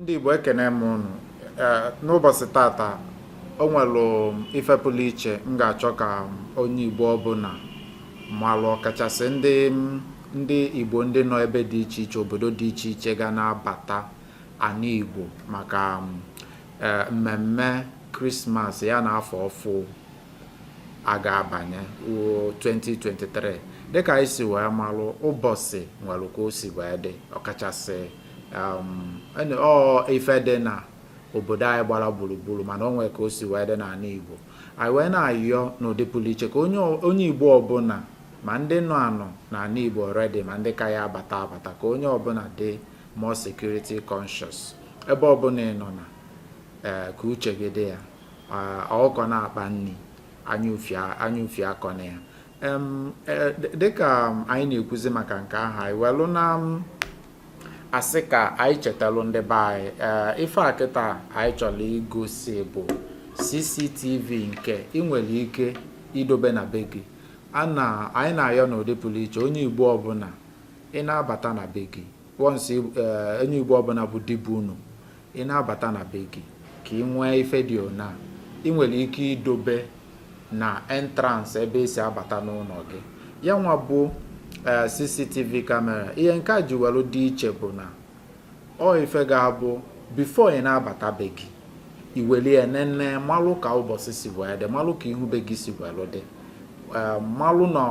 ndị Igbo ekene m unu n'ụbọsị tata o nwelu ife pụlụ iche m ga-achọ ka onye Igbo ọbụna malụ ọkachasị ndị ndị Igbo ndị nọ ebe dị iche iche obodo dị iche iche ga na-abata ana Igbo maka e, mmemme krismas ya na afọ ọfụ a ga-abanye 2023 dịka anyị si wee malụ ụbọsị nwere ka o si wee dị ọkachasị um, ife dị na obodo anyị gbala gburugburu mana o nwe ka o si wee dị n'ana Igbo anyị wee na-ayọ n'ụdị pụlụ iche ka onye Igbo ọbụna ma ndị nọ anọ n'ana Igbo already ma ndị ka ya-abata abata ka onye ọbụna dị more security conscious ebe ọbụna ị nọ na eh, ka uche gị dị ya ọkụkọ na-akpa nni anya ufie akọna ya e, dịka anyị na-ekwuzi maka nke ahụ anyị welụ na-asị ka anyị chetalụ ndị be anyị e, ife a kịta anyị chọrọ igosi bụ CCTV nke ị nwere ike idobe na be gị na anyị na-ayọ n'ụdị pụlụ iche onye Igbo ọbụna ị na-abata na be gị once eh, onye Igbo ọbụna bụ di bu ụnọ ị na-abata na be gị ka ị nwee ife dị ona ị nwere ike idobe na entrance ebe e si abata n'ụnọ gị ya nwa bụ eh, cctv camera ihe nke a ji welu dị iche bụ na ọ ife ga-abụ before ị na-abata be gị i weli ya nene malụ ka ụbọsị si wee dị malụ ka ihu be gị si welu dị eh, malụ na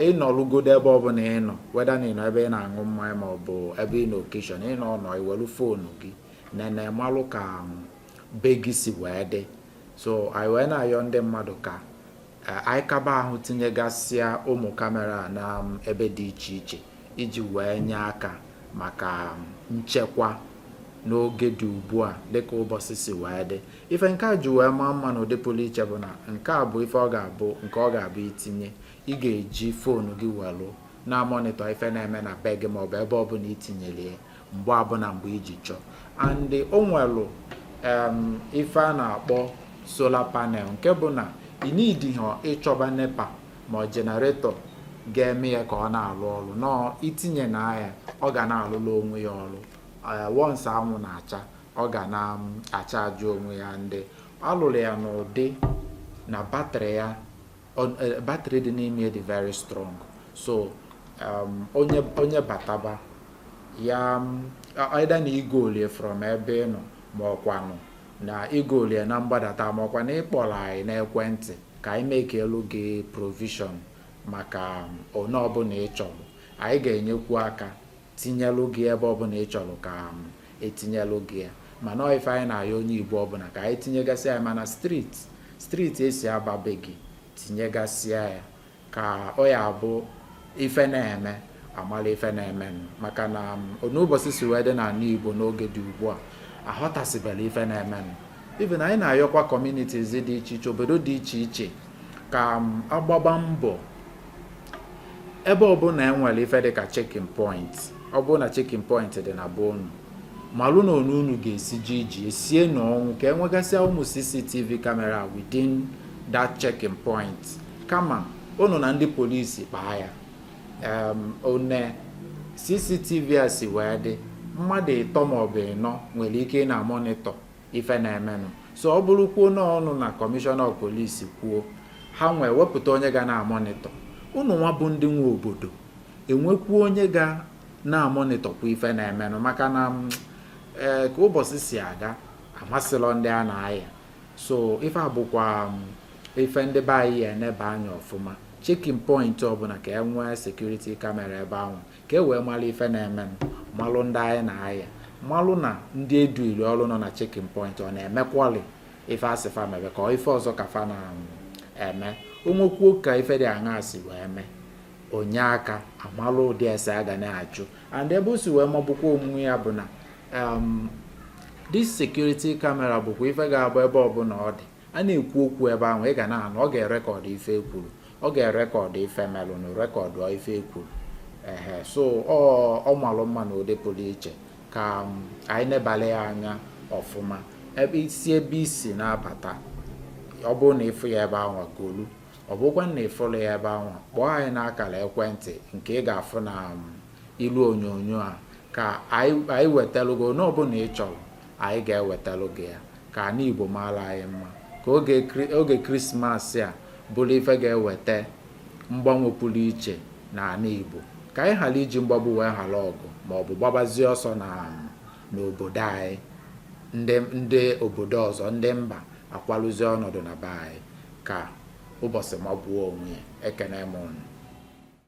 ị nọlụgodo ebe ọbụna ị nọ whether na ị nọ ebe ị na-aṅụ mmanya ma ọ bụ ebe ị nọ occasion ị nọ nọ i welu foonu gị nene malụ ka um, be gị si wee dị so anyị wee na-ayọ ndị mmadụ ka eh, anyị kaba ahụ tinyegasịa ụmụ camera na um, ebe dị iche iche iji wee nye aka maka um, nchekwa n'oge dị ugbu a dịka ụbọsị si wee dị ife nke a ji wee maa mma n'ụdị pụlụ iche bụ na nke a bụ ife ọ ga-abụ nke ọ ga-abụ i tinye ị ga-eji foonu gị welụ na-amonitor ife na-eme na be gị maọbụ ebe ọbụna i tinyelu ya mgbe ọbụna mgbe i ji chọọ and o nwelụ ife a na-akpọ solar panel nke bụ na ị needighị ịchọba NEPA ma ọ generator ga-eme ya ka ọ na-alụ ọlụ no i tinyena ya ọ ga na-alụlụ onwe ya ọlụ eh, once anwụ na-acha ọ ga na-achaajị onwe ya ndị a lụlụ ya n'ụdị na batrị ya eh, batrị dị n'ime dị very strong so um, onye onye bataba ya either na igolie from ebe ị nọ ma ọkwanụ na igolie na mgbadata ma ọkwa na ịkpọrọ anyị n'ekwentị ka anyị mekeelu gị provision maka um, one ọbụla ị chọrọ anyị ga-enyekwu aka tinyelụ gị ebe ọbụla ị chọrọ ka um, etinyelụ gị ya mana ọ ife anyị na-ayọ onye igbo ọbụla ka anyị tinyegasị ya ma na street street e si aba be gị tinyegasịa ya ka ọ ya abụ ife na-eme a mala ife na-eme maka na um, n'ụbọchị si wee dị n'ala igbo n'oge dị ugbu a aghọtasịbela ife na-eme even anyị na-ayọkwa communities dị iche iche obodo dị iche iche ka um, a gbaba mbọ ebe ọbụla e nwere ife dịka checking point ọ bụrụ na checking point dị na be unu malụ na onu unu ga-esi ji iji esie n'ọnwụ ka enwegasịa ụmụ cctv camera within that checking point kama unu na ndị polisi kpaa ya one cctv a si wee dị mmadụ ịtọ maọbụ ịnọ nwere ike ị na-amonitọ ife na-emenụ so ọ bụrụkwuo na unu na commissioner of police kwuo ha nwee wepụta onye ga na-amonitọ unu nwa bụ ndị nwe obodo enwekwu onye ga na-amonitọkwa ife na-emenụ maka na mm, e, ka ụbọchị si aga amasịlọ ndị a na-aya so ife a bụkwa mm, ife ndị be anyị ya eneba anya ọfụma checking point ọbụla ka e nwee security camera ebe ahụ ka e wee malụ ife na-emenụ malụ ndị anyị na-aya malụ na ndị e dunyelu ọrụ nọ na checking point ọ na-emekwali ife a sị fa mebe ka ife ọzọ ka fa na-eme um, o nwekwuo ka ife dị aṅa si wee mee o nye aka a malụ ụdị ese a ga na-ajụ and ebe o si wee magbukwa onwe ya bụ na um, this security camera bụkwa ife ga-abụ ebe ọbụla ọ dị a na-ekwu okwu ebe ahụ ị ga na-anụ ọ ga-erekọdụ ife ekwuru ọ ga-erekọdụ ife melụnụ rekọdụ ife ekwuru ehe so ọ malụ mma na ụdị pụrụ iche ka um, anyị nebala ya anya ọfụma ebe i si ebe i si na-abata ọ bụrụ na ị fụ ya ebe ahụ golu ọ bụkwa na ị fụlọ ya ebe ahụ kpọọ anyị n'akara ekwentị nke ị ga-afụ na um, ilu onyonyo a ka anyị wetalu gị one ọbụla ị chọrọ anyị ga-ewetalu gị ya ka ana Igbo maara anyị mma ka oge Krismas a bụrụ ife ga-eweta mgbanwe pụrụ iche na ana Igbo ka anyị ghara iji mgbagbu wee ghara ọgụ ma ọ bụ gbabazie ọsọ na n'obodo anyị ndị ndị obodo ọzọ ndị mba akwaluzie ọnọdụ na be anyị ka ụbọchị magbuo onwe ya ekene m